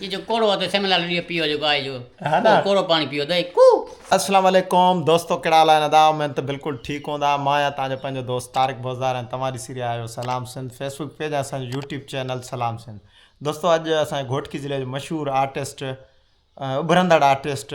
جي جو ڪوڙو آ تو سيم لال ڏيو پيو جيڪو آهي جو ڪو ڪوڙو پاڻي پيو دئي ڪو. اسلام عليڪم دوستو ڪهڙا حال آهن ادا اميد ته بلڪل ٺيڪ هوندا مان آهيان توهان جو پنهنجو دوست طارق بوزدار ۽ توهان ڏسي رهيا آهيو سلام سنڌ فيسبوڪ پيج ۽ اسان جو يوٽيوب چينل سلام سنڌ دوستو اڄ اسان جي گهوٽڪي ضلعي جو مشهور آرٽسٽ اڀرندڙ آرٽسٽ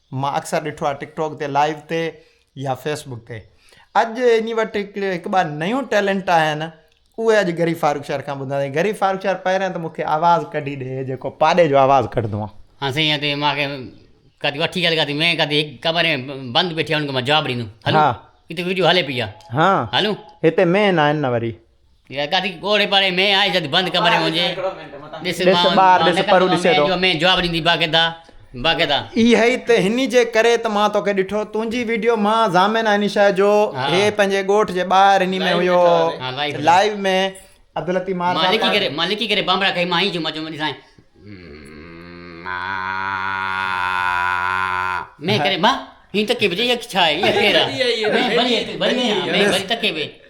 مان اڪثر ڏٺو آهي ٽڪ ٽاڪ تي لائيو تي يا فيس بڪ تي اڄ اني وٽ هڪ ٻه نيون ٽيلنٽ آهن اهي اڄ گري فاروق شهر کان ٻڌندا آهن گري فاروق شهر پهريان ته مونکي آواز ڪڍي ڏي جيڪو پاڏي جو آواز ڪڍندو آهي ها سائين اتي ماکي ڪدي وٺي ڳالهه ڪدي مين ڪدي هڪ ڪمري ۾ بند بيٺي هن کي مان جواب ڏيندم هلو هتي ويڊيو هلي پئي آهي ها هلو هتي مين آهن نه وري اهي ته هني جي ڪري ته مان توکي ڏٺو تنهنجي ويڊيو مان ضامن آهي نشا جو هي پنهنجي ڳوٺ جي ٻاهر هني ۾ هيو لائيو ۾ عبداللطيف مار مان لڪي ڪري مان لڪي ڪري بانبڙا کائي مان هي جمعه جمعه ڏسان مين ڪري مان هي تڪي به جي ڇا هي ڪير آهي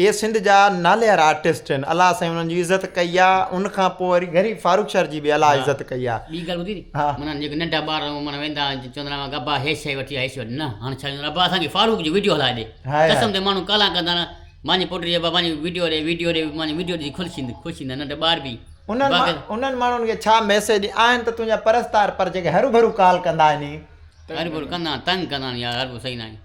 اهي سنڌ جا ناليار آرٽسٽ آهن الله سائين انهن جي عزت ڪئي آ ان کان پوء وري غريب فاروق شر جي به الله عزت ڪئي آ. ٻي ڳالھ ٻڌي ها. معنيٰ جيڪي ننڍا ٻار هون معنيٰ ويندا آهن چوندا آهن اماکي ابا هي شئي وٺي آ هي شئي وٺي نه هاڻ ڇا چوندا ابا اسان کي فاروق جو ويڊيو هلائي ڏي هاء هاء. قسم تي ماڻهون ڪالا ڪندا آهن مانجي پوٽي چئي ابا مانجي ويڊيو ڏي ويڊيو ڏي مانجي ويڊيو ڏسي خلش ٿيندي خوش ٿيندا ننڍا ٻار به انهن مان باقي انهن ماڻهن کي ڇا ميسيج آهن ته تنهنجا پرستار پر جيڪي هرو ڀرو ڪال ڪندا آهن ني. هرو ڀرو ڪندا آهن تنگ ڪندا آهن يار هرو ڀرو صحيح ناهي.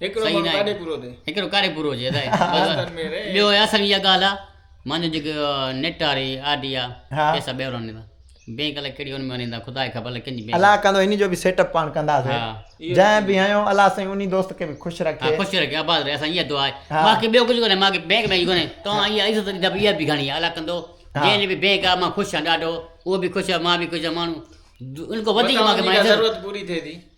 صحيح نه آهي هڪڙو ڪاري پورو هجي ٻيو اصل اها ڳالهه آهي مانجو جيڪو نيٽ واري آر ڊي آهي پيسا ٻيهر آڻيندا بينڪ الائي ڪهڙي ان ۾ آڻيندا خدا کي خبر ڪن جي بينڪ الائي ڪندو هن جو به سيٽ اپ پاڻ ڪنداسين جنهن به هيو الله سائين انهي دوست کي به خوش رکي خوش رکي آباد رهي اسان اها دعا آهي باقي ٻيو ڪجهه ڪونهي ماکي بينڪ ۾ ڪونهي تو اها عزت اها به گهڻي آهي الائي ڪندو جنهن به بينڪ آهي مان خوش آهيان ڏاڍو اهو به خوش آهي مان به خوش آهيان ماڻهو ان کان وڌيڪ ماکي ضرورت پوري ٿئي ٿي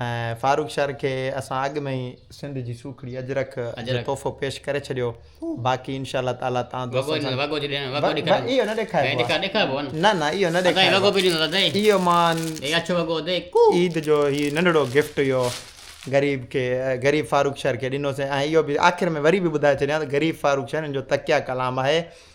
۽ فاروق شر کي اسان اڳ ۾ ئي سنڌ جي سوکڙي اجرڪ جو تحفو پيش ڪري ڇڏيو باقي انشاء الله تعالي تان دوستن سان وڳو جي ڏيڻ وڳو ڏيکاريو اهو نه ڏيکاريو ڏيکار ڏيکاربو نه نه نه اهو نه ڏيکاريو اهو وڳو به ڏيندو اٿئي اهو مان هي اڇو وڳو اٿئي ڪو عيد جو هي ننڍڙو گفٽ اهو غريب کي غريب فاروق شر کي ڏنو سين ۽ اهو به آخر ۾ وري به ٻڌائي ڇڏيان ته غريب فاروق شر ان جو تقيا ڪلام آهي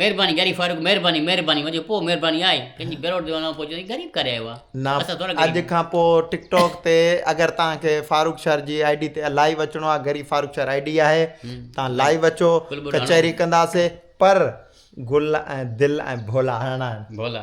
مهرباني گهري فاروق مهرباني مهرباني وڃو پوء مهرباني آهي ڪنهن جي بيروٽ تي وڃڻ پوء چوندين غريب ڪري آيو آهي نا اسان ٿورا غريب اڄ کان پوء ٽڪ ٽاڪ تي اگر توهان کي فاروق شر جي آئي ڊي تي لائيو اچڻو آهي گهري فاروق شر آئي ڊي آهي توهان لائيو اچو ڪچهري ڪنداسي پر گل ۽ دل ۽ ڀولا هڻڻا آهن ڀولا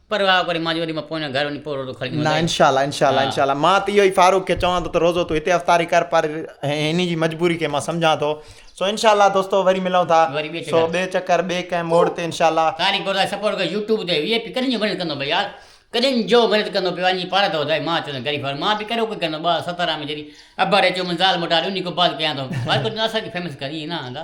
پر واء ڪري مان چيو وري مان پوئين گهر وڃي پوء روزو کڻي ايندس نه سائين انشاء الله انشاء الله انشاء الله مان ته اهو ئي فاروق کي چوان ٿو ته روزو تون هتي افطاري ڪر پر هن جي مجبوري کي مان سمجهان ٿو سو انشاء الله دوستو وري ملون ٿا وري ٻئي سو چڪر. ٻئي چڪر ٻئي ڪنهن موڙ تي انشاء الله تاريخ گورداس سپورٽ ڪيو يوٽيوب تي وي اي پي ڪڏھن جو محنت ڪندو ڀئي يار ڪڏھن جو محنت ڪندو پيو وڃي پاڙ ته ٻڌاء مان چوندس غريب مان به ڪهڙو ڪجهه ڪندو ٻه هزار سترهن ۾ جڏهن ابا ري چيو من زال موٽا ري اني ڪو بات ڪيان ٿو وائي ڪو چوندو اسان کي فيمس ڪر ائين نه آندا